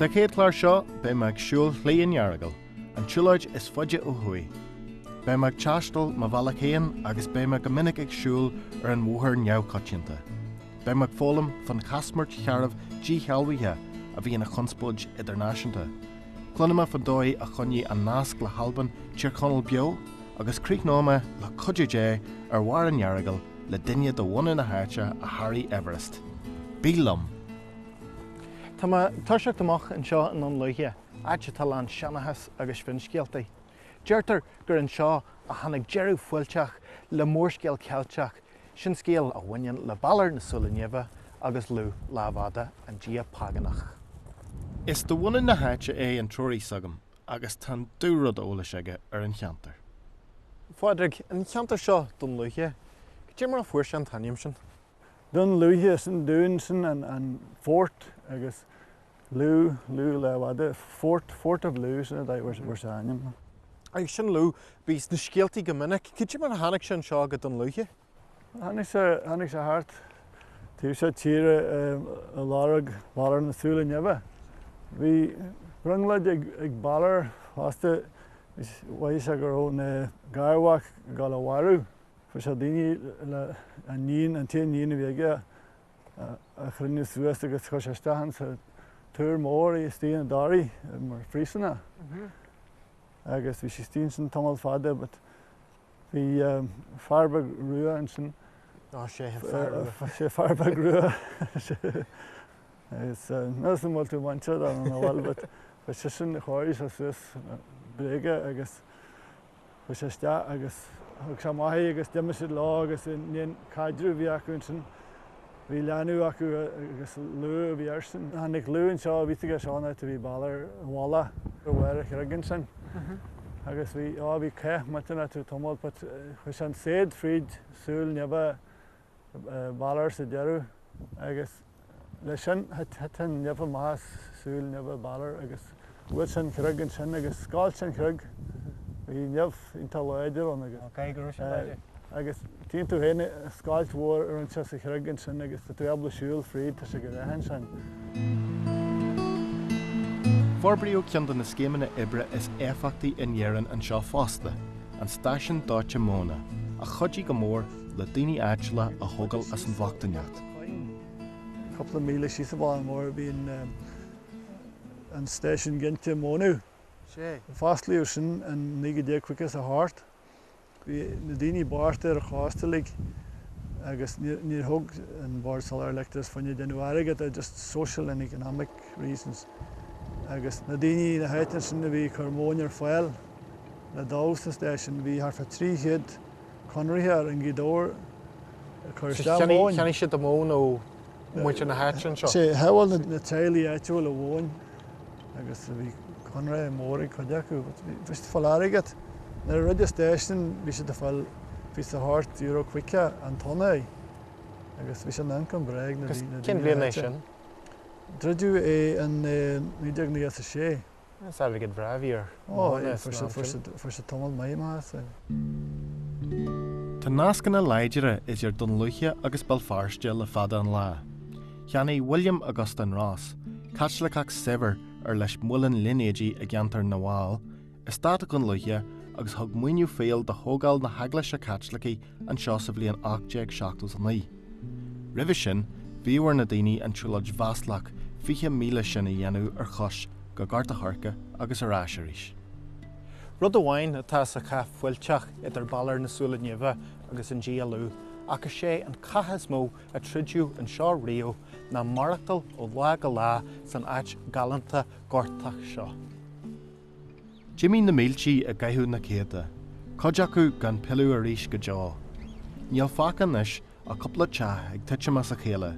Sa chéad chlár seo, beidh mé ag siúl Shlí an Earagail, an tsiúlóid is faide ó thuaidh. Beidh mé ag taisteal mo bhealach féin agus beidh mé go minic ag siúl ar an bhóthar neamhchoitianta. Beidh mé ag foghlaim fán chaismirt shearbh díshealbhaithe a bhí ina chonspóid idirnáisiúnta. Cluinfidh mé fán dóigh a choinnigh an nasc le hAlbain Tír Chonaill beo, Agus críochnóidh mé, le cuidiú Dé, ar bharr an Earagail, le duine de bhunadh na háite a sháraigh Everest. Bí liom! Tá mé ag toiseacht amach anseo i nDún Lúiche, áit atá lán seanchas agus finscéaltaí. Deirtear gur anseo a tháinig deireadh fuilteach le mórscéal Ceilteach, sin scéal a bhaineann le Balor na Súile Nimhe agus Lugh Lámhfhada, an dia págánach. Is de bhunadh na háite é an treoraí s'agam, agus tá an dú-rud eolais aige ar an cheantar. Phádraig, an cheantar seo Dún Lúiche, cad é mar a fuair sé an t-ainm sin? Dún Lúiche, is an dún sin an fort agus Lú, Lú Lámhfhada, Fort, Fort of Lú, sin a bhfuair sé a ainm. Agus sin Lú, bhí sna scéaltaí go minic. Cad é mar a tháinig sé anseo go Dún Lúiche? Tháinig sé, tháinig sé thart, taobh seo tíre ag lorg Bhalor na Súile Nimhe. Bhí brionglóid ag, ag Balor fosta, mhaígh sé go raibh an garmhac dul a mharú. Fuair sé daoine le an níon, an t-aon níon a bhí aige a chruinniú suas agus chuir sé isteach ann sa túr mór í istigh i dToraigh mar phríosúnach. Agus bhí sí istigh ansin tamall fada but, Bhí fear beag rua ansin. Ná séidh an fear rua. Bhí sé fear beag rua. Níl a fhios agam an bhfuil tú muinteartha nó nach bhfuil, but chuaigh seisean, chóirigh sé suas bréige agus chuaigh sé isteach agus thug sé amach í agus d'imigh siad leo agus i ndiaidh an caidreamh a bhí acu ansin. Bhí leanbh acu agus Lú a bhí airsean. Tháinig Lú anseo, bhí a fhios aige seo an áit a bhí Balor i bhfolach go bhfuair a chreig ansin. Agus bhí, á, bhí cath millteanach acu tamall but chuir sé an saighead fríd súil nimhe Bhalor sa deireadh agus le sin thit an nimh amach as súil nimhe Bhalor agus. Bhuail sé an chreig ansin agus scoilt sé an chreig. Bhí nimh iontach láidir ann agus. Ok, go raibh sé láidir. Agus tchíonn tú féin scoilt mhór a rinne sé sa chreag ansin agus tá tú ábalta siúl fríd, tá sé go deas ansin. Forbraíodh ceann de na scéimeanna oibre is éifeachtaí in Éirinn anseo fosta, an Stáisiún Dóite Móna, a chuidigh go mór le daoine áitiúla a thógáil as an bhochtaineacht. Cúpla míle síos an bóthar mór bíonn. an Stáisiún Ginte Mónadh. Sea, fosclaíodh sin in 1958. Bhí na daoine bocht ar an chósta uilig agus níor thóg an Bord Soláthar Leictreachais fá choinne déanamh airgid é, just social and economic reasons. Agus na daoine na háite ansin a bhí ag cur móin ar fáil le dó sa stáisiún, bhí thart fá 300, conraitheoir i nGaoth Dobhair ag cur isteach ar mhóin. Cheannaigh siad an mhóin ó mhuintir na háite anseo. Sea, shábháil na teaghlaigh áitiúla an mhóin agus bhí conradh mór ag cuid acu. Bhí siad ag fáil airgead. Nuair a dhruid an station bhí siad ag fáil bhí sé thart euro caoga an tonna agus bhí sé ina ioncam breá ag na daoine na háite. Cén bhliain é sin? Druideadh é in 1996. Is airgead breá a bhí ar mhónaidh san am sin. Fuair sé tamall maith, maith as. Tá nascanna láidre idir Dún Lúiche agus Béal Feirste le fada an lá. Cheannaigh William Augustine Ross, Caitliceach saibhir ar leis muileann línéidí i gceantar na bhFál, eastát Dhún Lúiche agus thug maoiniú fial do thógáil na hEaglaise Caitlicí anseo sa bhliain 1879. Roimhe sin, bhíodh ar na daoine an tsiúlóid mhaslach fiche míle sin a dhéanamh ar chois go Gort a' Choirce agus ar ais arís. Rud amháin atá sa chath fuilteach idir Balor na Súile Nimhe agus an dia Lugh, ach is é an cath is mó a troideadh anseo riamh, ná maireachtáil ó lá go lá san áit ghalánta gortach seo. D'imigh na míltí i gcaitheamh na céadta, cuid acu gan pilleadh arís go deo. Níl fágtha anois ach cúpla teach ag titim as a chéile,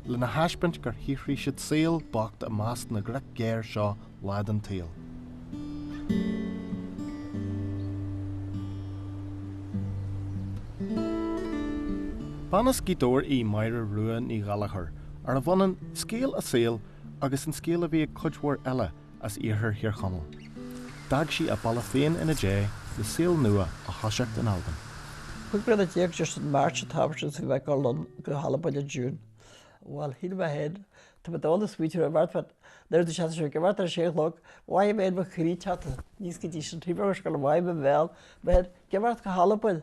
lena thaispeáint gur shaothraigh siad saol bocht i measc na gcreag géar seo lá den tsaol. Bean as Gaoth Dobhair í Máire Rua Ní Ghallchóir, arbh ionann scéal a saoil agus an scéal a bhí ag cuid mhór eile, as iarthar Thír Chonaill. D'fhág sí a baile féin ina déidh le saol nua á thoiseacht in Albain. Cúig bliana déag just in March an t-am sin agus chuaigh mé liom go hAlbain in June. Bhuel, shíl mé féin, tá mé dall is smaointigh mé, mar tá an oiread de sheans ansin ag imeacht ar a sé a chlog, bhfaighidh mé fhéin mo chríche teannta níos go dtí sin, taobh amuigh ar scoil, bhfaighidh mé mo bhéal, mo shuim, ag imeacht go hAlbain.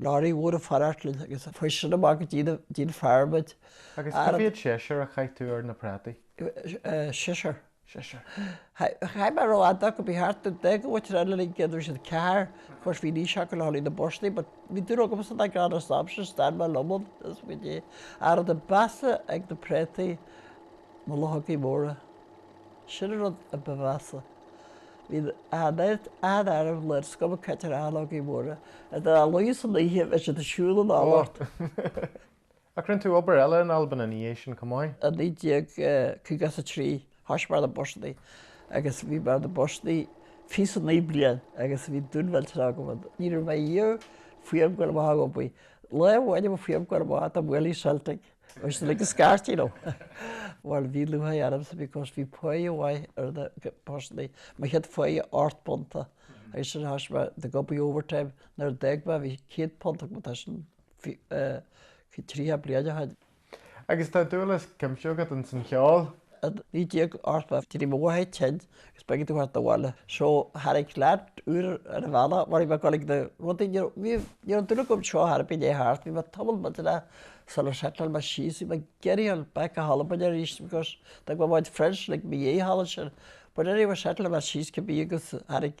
Leoraí mór ag fanacht linn agus chuir sin amach go dtí an farm muid. Agus cá mhéad séasúr a chaith tú ar na prátaí? Séasúr? Séasúr. Chaith mé ró fhada acu, bhí thart ar deich gcúirt eile linn, cé go raibh siad ceathar, course bhí aois acu le hurley na bpostaí but bhí dúil agamsa dá gclann as an am sin, stair mé liom ann is go dtí. An rud ba mheasa ag na préataí na luchógaí móra. Sin an rud a ba mheasa. Bhí an oiread an-airm le scuabadh caite ar luchógaí móra, ar na luchógaí san oíche, bheadh siad ag siúl anall ort. Ach rinn tú obair eile in Albain ina dhiaidh sin chomh maith? I 1953 thoisigh mé ar na busannaí agus bhí mé ar na busannaí fiche is a naoi bliain agus bhí dúil mhillteanach agam ann. Ní raibh mé riamh fuath liom gabháil amach ag obair. Lá amháin a mb'fhuath liom gabháil amach dá mbuailfí Celtic. Bhí siad uilig ag scairt, you know. Bhuel, bhí lúcháir ormsa because, bhí páighe mhaith ar na busannaí, mo chéad pháighe ocht bpunta, agus ansin thoisigh mé ag obair overtime, nuair a d'fhág mé bhí céad punt agam, tá sin tríocha bliain ó shin. Agus tá dúil is cuimse agat ins an cheol? 1980, d'éirigh mo mháthair tinn, Is b'éigean domh teacht abhaile. So, tháinig leat uair ar an bhealach, mar bhí mé ag dul ag na rudaí, ní raibh, ní raibh duine agam seo thar pé léith thart, bhí mé tamall maith, sular shettleáil mé síos, bhí mé ag iarraidh gabháil back go hAlbain aríst because d'fhág mé mo chuid friends uilig i mo dhéidh thall ansin. But anyway, shettleáil mé síos cibé agus tháinig,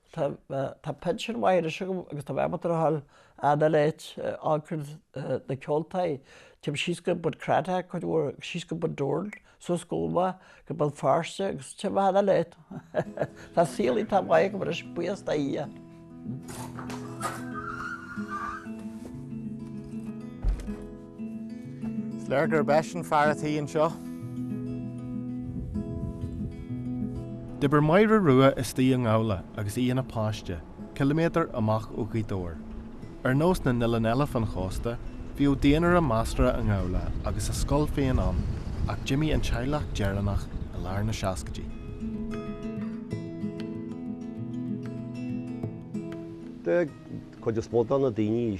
Tá pinsean maith anois agam agus tá mé ábalta a ghabháil an uile áit chuig na ceoltaí. Téim síos go Bun Cranncha cuid mhór agus síos go Bun Dobhráin, suas go hÓmaigh, go Béal Feirste agus téim an uile áit. Tá saol iontach mhaith agam anois buíochas do Dhia. Is léir gurb eisean fear a' tí anseo. D'oibir Máire Rua istigh i nGabhla agus í ina páiste, ciliméadar amach ó Ghaoth Dobhair. Ar nós na n-oileán eile fan chósta, bhíodh daonra measartha i nGabhla agus a scoil féin ann ach d'imigh an teaghlach deireanach i lár na seascaidí. Bheadh cuid is mó de na daoine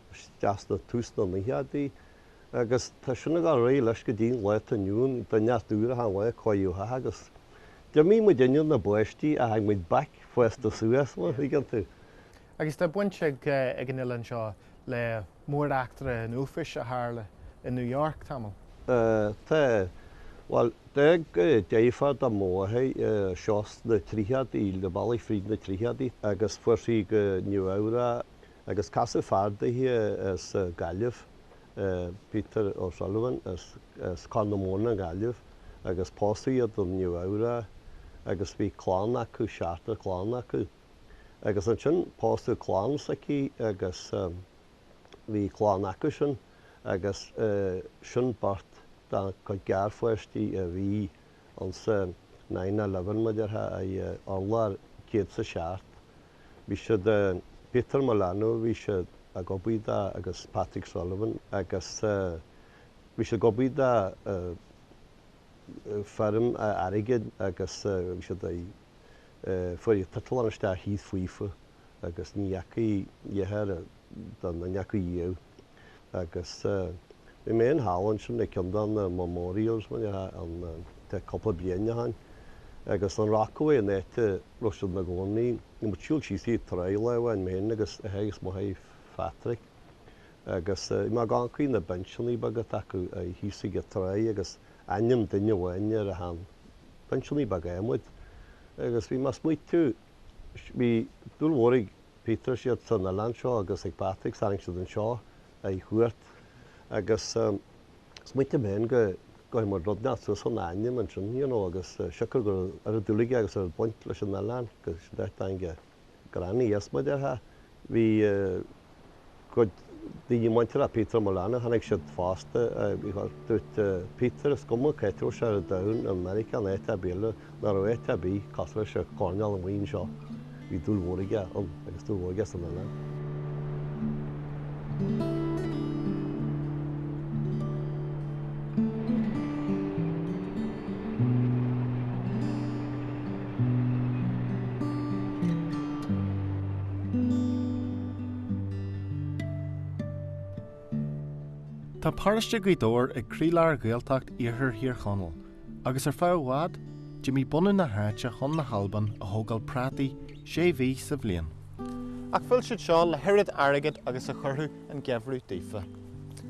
Chastar tús na nóchaidí agus tá sin ag dul ar aghaidh leis go dtí an lá atá inniu ann, duine as d'uair achan lá, cáidheadh agus. D'imigh muid inár bpáistí is tháinig muid back fásta suas, an dtuigeann tú. Agus tá baint ag an oileán seo le mór-eachtra an uafáis a tharla i New York tamall. Tá, bhuel, d'fhág deirfiúr do mo mháthair seo sna tríochaidí, leath bealaigh fríd na tríochaidí agus chuaigh sí go Nua-Eabhrac. Agus casadh fear daoithe as Gaillimh, Peter O'Sullivan, as Corr na Móna i nGaillimh, agus pósadh iad i Nua-Eabhrac agus bhí clann acu, seachtar clann acu. Agus ansin pósadh clann s'aici agus bhí clann acusan agus sin beirt dá cuid garpháistí a bhí ansa nine eleven, beirt dheartháir ar urlár céad is a seacht. Bhí siad, Peter Molano, bhí sé ag obair dó agus Patrick Sullivan agus bhí siad ag obair do firm airgid agus bhí siad ag, fuair siad total an eastát thíos fúthu agus ní dheachaigh, a dheartháir Don, ní dheachaigh sé. Agus bhí mé thall ansin ag ceann de na memorials mar dhea ann, tá cúpla bliain ó shin agus i Rockaway an áit a rabh siad ina gcónaí agus ag siúl síos faoin tráigh lá amháin mé fhéin agus Teague is mo sheanPatrick agus bhí mé ag amharc fríd na binseannaí beaga atá acu thíos ag an tráigh agus ainm duine amháin ar achan cheann, binseannaí beaga adhmaid agus bhí mé ag smaoitiú bhí dúil mhór ag Peter siad san oileán seo agus ag Patrick is tháinig siad anseo ar cuairt agus smaointigh mé fhéin go gcuirfeadh muid rud inteacht suas lena ainm ansin you know agus siocair go raibh oiread dúil aige ann agus oiread baint leis an oileán go dtí teach a ghranny agus muid ar, bhí gcuid daoine muinteartha ag Peter Mullaney, tháinig siad fosta. Dúirt Peter, is cuma cá dtéadh sé ar domhan, i Meiriceá nó áit ar bith eile, nach raibh áit ar bith cosúil leis an gcoirnéal amháin seo. Bhí dúil mhór aige ann agus dúil mhór aige san oileán. Tá paróiste Ghaoth Dobhair ag croílár Ghaeltacht Iarthar Thír Chonaill, agus ar feadh i bhfad, d'imigh bunadh na háite chun na hAlban a thógáil prátaí sé mhí sa bhliain. Ach phill siad seo le hoiread airgid agus a chuirfeadh an geimhreadh daofa.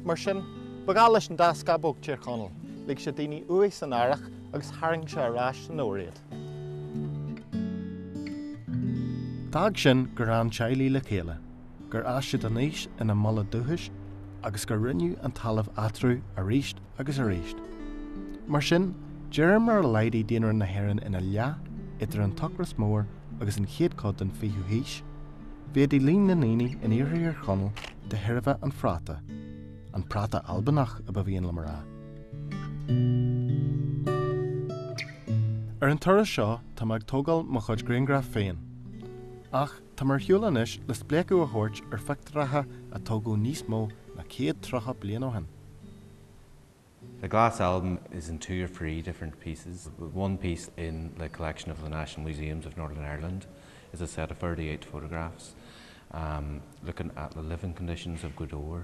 Mar sin, ba gheall leis an dá scamhóg Tír Chonaill, lig sé daoine uaidh san earrach agus tharraing sé ar ais san fhómhar iad. D'fhág sin gur fhan teaghlaigh le chéile, gur fhás siad aníos ina mbaile dúchais agus gur roinneadh an talamh eatarthu arís agus arís. Mar sin, de réir mar a laghdaigh daonra na hÉireann ina leath idir an tOcras Mór agus an chéad chuid den 20ú haois, mhéadaigh líon na ndaoine in Iarthar Thír Chonaill de thairbhe an phráta, an práta Albanach ba mhian liom a rá. Ar an turas seo tá mé ag tógáil mo chuid grianghraf féin. Ach tá mé ar shiúl anois le spléachadh a thabhairt ar phictiúracha a tógadh níos mó ná céad tríocha bliain ó shin. The Glass Album is in two or three different pieces. One piece in the collection of the National Museums of Northern Ireland is a set of thirty-eight photographs looking at the living conditions of Gweedore.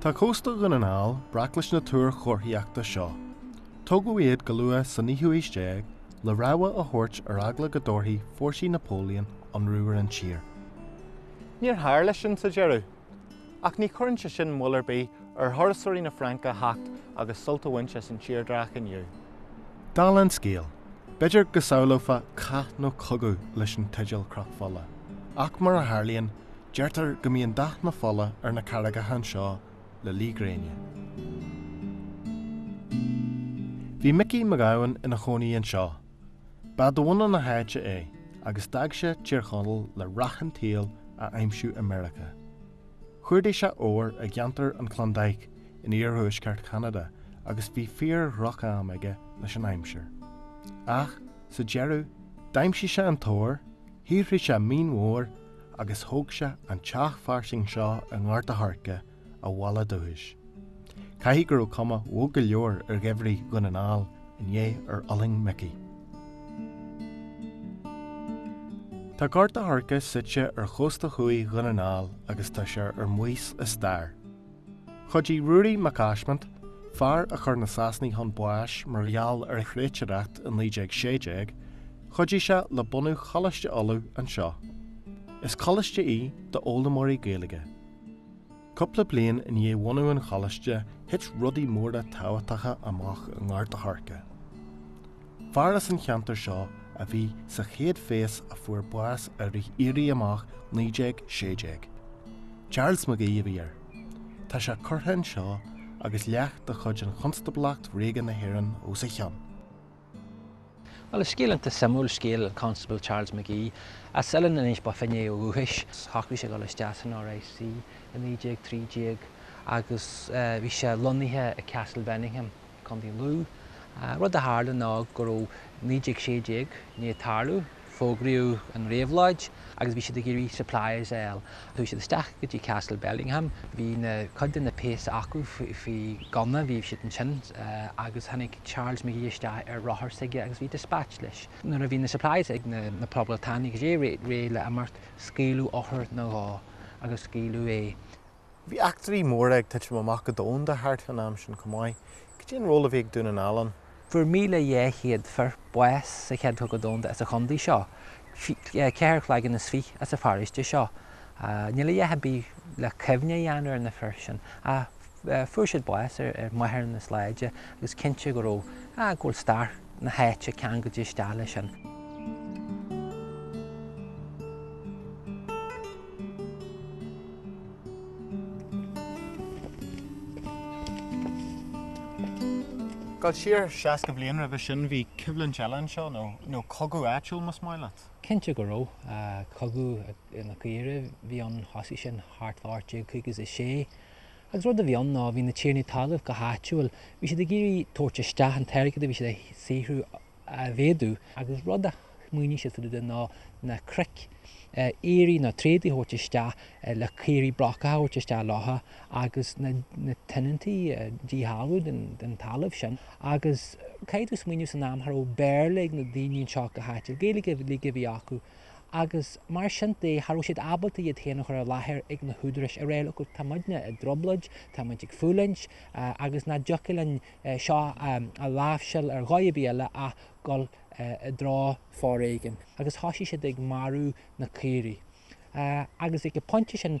Tá cósta Dhún na nGall breac leis na túir chomharthaíochta seo. Tógadh iad go luath sa naoú haois déag le rabhadh a thabhairt ar eagla go dtabharfadh fórsaí Napoleon ionradh ar an tír. Níor tharla sin sa deireadh. Ach ní chuireann sé sin moill ar bith ar thurasóirí na Fraince a theacht agus sult a bhaint as an tírdhreach inniu. Dála an scéil, b'fhéidir go samhlófá cath nó cogadh leis an teideal Cnoc Fola, ach mar a tharlaíonn, deirtear go mbíonn dath na fola ar na carraigeacha anseo le luí gréine. Bhí Micí Mac Gabhann ina chónaí anseo. Ba de bhunadh na háite é agus d'fhág sé Tír Chonaill le rath an tsaoil a aimsiú i Meiriceá. Chuardaigh sé ór i gceantar an Klondike in iarthuaisceart Cheanada agus bhí fíor-dhroch-am aige leis an aimsir. Ach, sa deireadh, d'aimsigh sé an t-ór, shaothraigh sé maoin mhór agus thóg sé an teach fairsing seo i nGort a' Choirce, a bhaile dúchais. Caithfidh go raibh cuma bhog go leor ar gheimhridh Dhún na nGall i ndiaidh ar fhulaing Mickey. Tá Gort a' Choirce suite ar chósta thuaidh Dhún na nGall agus tá sé ar maos i stair. Chuidigh Ruairí Mac Easmainn, fear a chuir na Sasanaigh chun báis mar gheall ar thréatúireacht i 1916, chuidigh sé le bunú Choláiste Uladh anseo. Is coláiste í d'fhoghlaimeoirí Gaeilge. Cúpla bliain i ndiaidh bhunú an Choláiste thit rudaí móra tábhachtacha amach i nGort a' Choirce. Fear as an cheantar seo a bhí sa chéad phéas a fuair bás i rith Éirí Amach 1916. Charles McGee a bhí air. Tá sé curtha anseo agus leac de chuid Chonstáblacht Ríoga na hÉireann os a chionn. Bhuel, is scéal iontach suimiúil scéal an Constable Charles McGee, as Oileán Inis Bó Finne ó dhúchas. Shocraigh sé dul isteach san RIC i 1913 agus bhí sé lonnaithe i Castle Bellingham, Contae Lú. Rud a tharla ná go raibh 1916 i ndiaidh tarlú, Fógraíodh an réabhlóid agus bhí siad ag iarraidh supplies a fháil. Chuaigh siad isteach go dtí Castle Bellingham, bhí na, cuid de na péas acu faoi ghunna, bhí siad ansin agus tháinig Charles McGee isteach ar rothar s'aige agus bhí dispatch leis. Nuair a bhí na supplies ag na Poblachtánaigh réidh le imeacht, scaoileadh urchar nó dhó agus scaoileadh é. Bhí eachtraí móra ag titim amach go domhanda thart fán am sin chomh maith. Cad é an ról a bhí ag Dún na nGall ann? Fuair 1,200 fir bás sa Chéad Chogadh Domhanda as an chontae seo, ceithre chloigeann is fiche as an pharóiste seo. Níl a dhath ar bith le cuimhne a dhéanamh ar na fir sin, ach fuair siad bás ar mhaithe lenár sláinte agus cinnte go raibh, go bhfuil stair. na háite ceangailte isteach leis sin. Dul siar seasca bliain roimhe sin, bhí coimhlint eile anseo, nó cogadh áitiúil, más maith leat. Cinnte go raibh. Cogadh na Caoirigh a bhí ann, thosaigh sin thart fá 1856. Agus rud a bhí ann ná, bhí na tiarnaí talaimh, go háitiúil, bhí siad ag iarraidh tabhairt isteach an t-airgead a bhí siad a shaothrú a mhéadú, agus rud a smaoinigh siad faoi de ná na cnoic, aoirí nó tréadaithe a thabhairt isteach le caoirigh brocacha a thabhairt isteach leo agus na na tionóntaí a díshealbhú den den talamh sin. Agus caithfidh tú smaoineamh san am cha raibh Béarla ag na daoine anseo go háitiúil, Gaeilge a bhí acu, agus mar sin de, cha raibh siad ábalta iad féin a chur i láthair ag na húdaráis a rá leo, tá muidne i dtrioblóid, tá muid ag fulaingt, agus nach dtiocfadh linn seo a láimhseáil ar dhóigh ar bith eile ach dul i dtreo foréigin. Agus thosaigh siad ag marú na caoirigh. Agus ag an bpointe sin,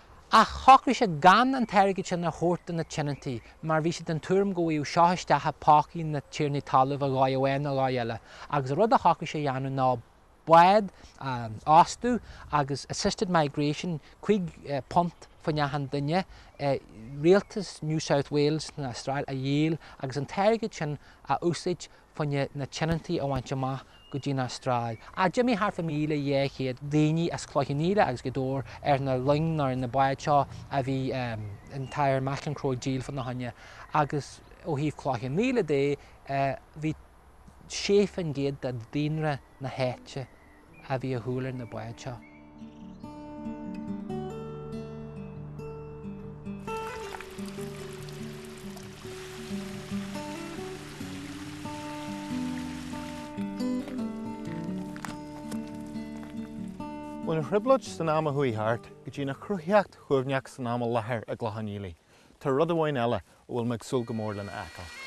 Ach shocraigh sé gan an t-airgead sin a thabhairt do na tionóntaí mar bhí sé den tuairim go bhfaigheadh seo isteach i bpócaí na tiarnaí talaimh ar dhóigh amháin nó ar dhóigh eile agus an rud a shocraigh sé a dhéanamh ná bád a fhostú agus assisted migration cúig phunt fá choinne achan duine do rialtas New South Wales na hAstráile a dhíol agus an t-airgead sin a úsáid fá choinne na tionóntaí a bhaint amach go dtí an Astráil. Ach d'imigh thart fá 1,200 daoine as Cloich Cheann Fhaola agus Gaoth Dobhair ar na loing nó ar na báid seo a bhí an tAthair McEncroe ag díol fána choinne agus ó thaobh Chloich Cheann Fhaola de bhí 6% de daonra na háite a bhí ar shiúl ar na báid seo. Ón trioblóid san am a chuaigh thart go dtí an chruthaíocht shuaimhneach san am i láthair i gCloich Cheann Fhaola. Tá rud amháin eile a bhfuil mé ag súil go mór lena fheiceáil.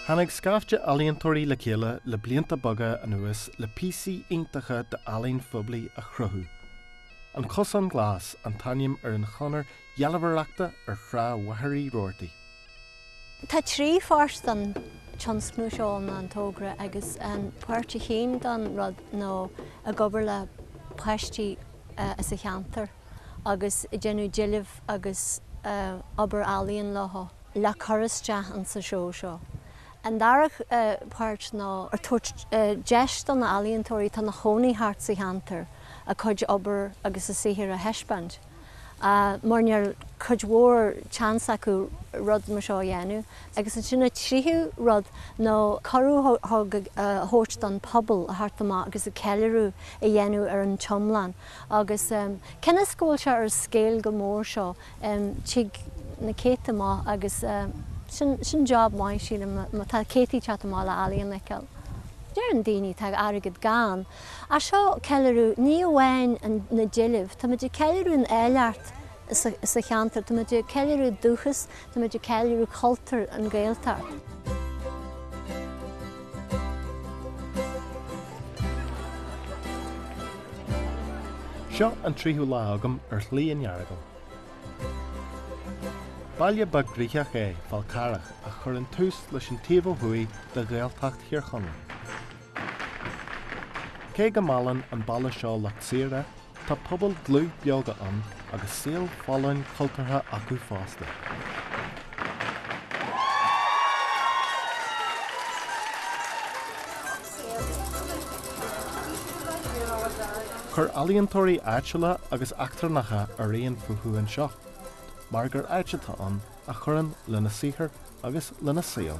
Tháinig scaifte ealaíontóirí le chéile le blianta beaga anuas le píosaí iontacha d'ealaín phoiblí a chruthú. An Cosán Glas an t-ainm ar an chonair dhealbhóireachta ar Thrá Mhachaire Uí Rabhartaigh. Tá trí pháirt don tionscnamh seo nó an tógra agus an páirt a haon don rud nó ag obair le páistí as an cheantar agus ag déanamh deilbh agus obair ealaíon leo, le cur isteach insa seó seo. An dara páirt ná ag tabhairt deis do na ealaíontóirí atá ina chónaí thart sa cheantar a cuid obair agus a saothar a thaispeáint. mar ní raibh cuid mhór seans acu rud mar seo a dhéanamh. Agus ansin an tríú rud ná cuireadh a thabhairt don phobal a theacht amach agus ceiliúradh a dhéanamh ar an iomlán. Agus cionn is go bhfuil sé ar scéal go mór seo tig na céadtaí amach agus sin job maith sílim má tá céadtaí ag teacht amach le ealaíon a fheiceáil. Deireann daoine tá airgead gann. Ach seo ceiliúradh ní amháin na deilbhe, tá muid ag ceiliúradh an eolaíocht sa cheantar, tá muid ag ceiliúradh dúchas, tá muid ag ceiliúradh cultúr an Ghaeltacht. Seo an tríú lá agam ar Shlí an Earagail. Baile beag gnaitheach é Fál Carrach a chuireann tús leis an taobh ó thuaidh de Ghaeltacht Thír Chonaill. Cé go meallann an baile seo lucht saoire, tá pobal dlúth beoga ann agus saol folláin cultúrtha acu fosta. Chuir ealaíontóirí áitiúla agus eachtrannacha araon fúthu anseo, mar gur áit atá ann a chuireann lena saothar agus lena saol.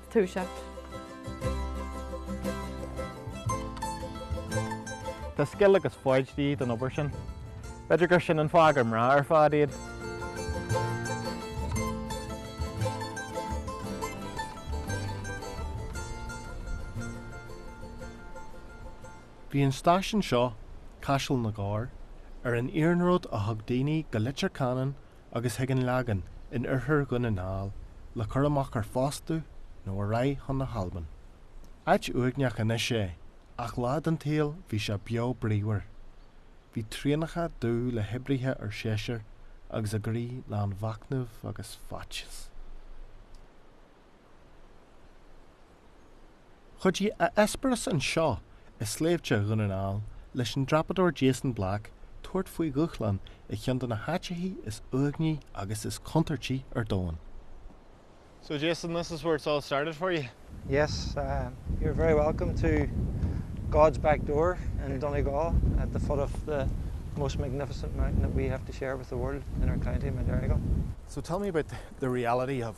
Tá scil agus foighid de dhíth don obair sin. B'fhéidir gur sin an fáth gur mná ar fad iad. Bhí an stáisiún seo, Caiseal na gCorr, ar an iarnród a thug daoine go Leitir Ceanainn agus chuig an Lagán in oirthear Dhún na nGall le cur amach ar fostú nó ar aghaidh chun na hAlban. Áit uaigneach anois é, ach lá den tsaol bhí sé beo bríomhar. Bhí traenacha dubh le hoibrithe séasúir agus a gcroí lán de mhachnamh agus faitíos. Chuidigh a eispéireas anseo i sléibhte Dhún na nGall leis an dreapadóir Jason Black tabhairt faoi dhúshlán i cheann de na háiteacha is uaigní agus is contúirtí ar domhan. So Jason, this is where it's all started for you? Yes, you're very welcome to God's back door in Donegal at the foot of the most magnificent mountain that we have to share with the world in our county, Mount Errigal. So tell me about the reality of.